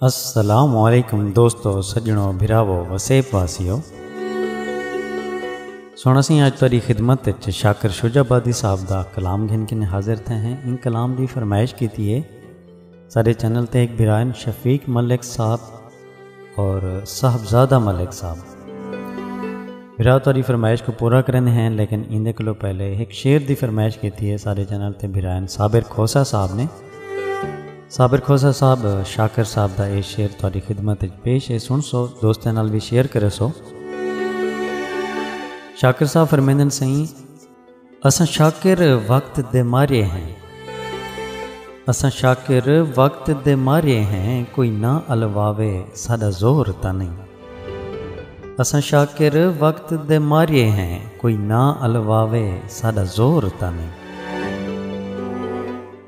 السلام علیکم دوستو سجنو بھراو وسیب واسیو سونا سی آج تاری خدمت اچ شاکر شجا آبادی صاحب دا کلام گھن کن حاضر تھے ہیں ان کلام دی فرمائش کیتی ہے سارے چینل تے ایک بھرائن شفیق ملک صاحب اور صاحبزادہ ملک صاحب بھرا تاری فرمائش کو پورا کریں ہیں لیکن اندے کلو پہلے ایک شعر دی فرمائش کیتی ہے سارے چینل تے بھرائن صابر کھوسا صاحب نے صابر کھوسا صاحب شاکر صاحب دا اے شعر تاری خدمت پیش ہے سن سو دوستیں نال بھی شیئر کرے سو شاکر صاحب فرمیندن سائیں اساں شاکر وقت دے مارے ہیں اساں شاکر وقت دے مارے ہیں کوئی نہ الواوے ساڈا زور تاں نہیں اساں شاکر وقت دے مارے ہیں کوئی نہ الواوے ساڈا زور تاں نہیں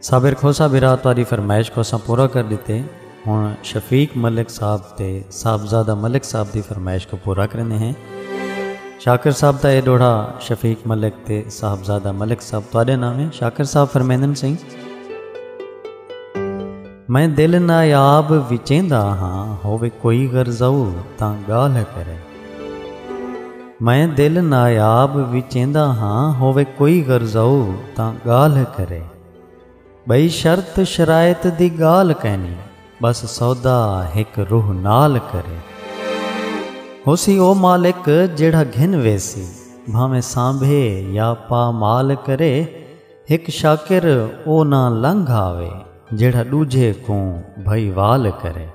صابر کھوسا برا تاری فرمائش کھوسا پورا کر دیتے ہݨ شفیق ملک صاحب تے صاحبزادہ ملک صاحب دی فرمائش کوں پورا کریندے ہیں۔ شاکر صاحب دا اے ݙوہڑا شفیق ملک تے صاحبزادہ ملک صاحب تہاݙے نام ہے۔ شاکر صاحب فرمیندن سئیں۔ میں دل نایاب وچیندا ہاں ہووے کوئی غرضاؤ تاں ڳالھ کرے۔ میں دل نایاب وچیندا ہاں ہووے کوئی غرضاؤ تاں ڳالھ کرے۔ بئی شرط شرائط دی گال کینی بس سودا ہک روح نال کرے ہوسی او مالک جیڑھا گھن ویسی بھاویں سانبھے یا پا مال کرے ہک شاکر او نہ لنگھ آوے جیڑھا ڈوجھے کوں بھئی وال کرے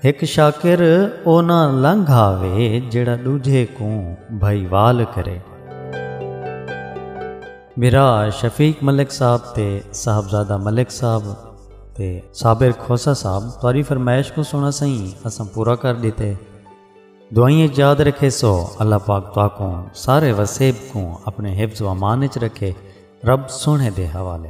ہک شاکر او نہ لنگھ آوے جیڑھا ڈوجھے کوں بھئی وال کرے۔ میرا شفیق ملک صاحب تے صاحبزادہ ملک صاحب تے صابر کھوسا صاحب تواری فرمائش کو سونا سائیں اساں پورا کر دیتے دعائیں یاد رکھے سو اللہ پاک تو کو سارے وسیب کو اپنے حفظ و امان چ رکھے رب سونے دے حوالے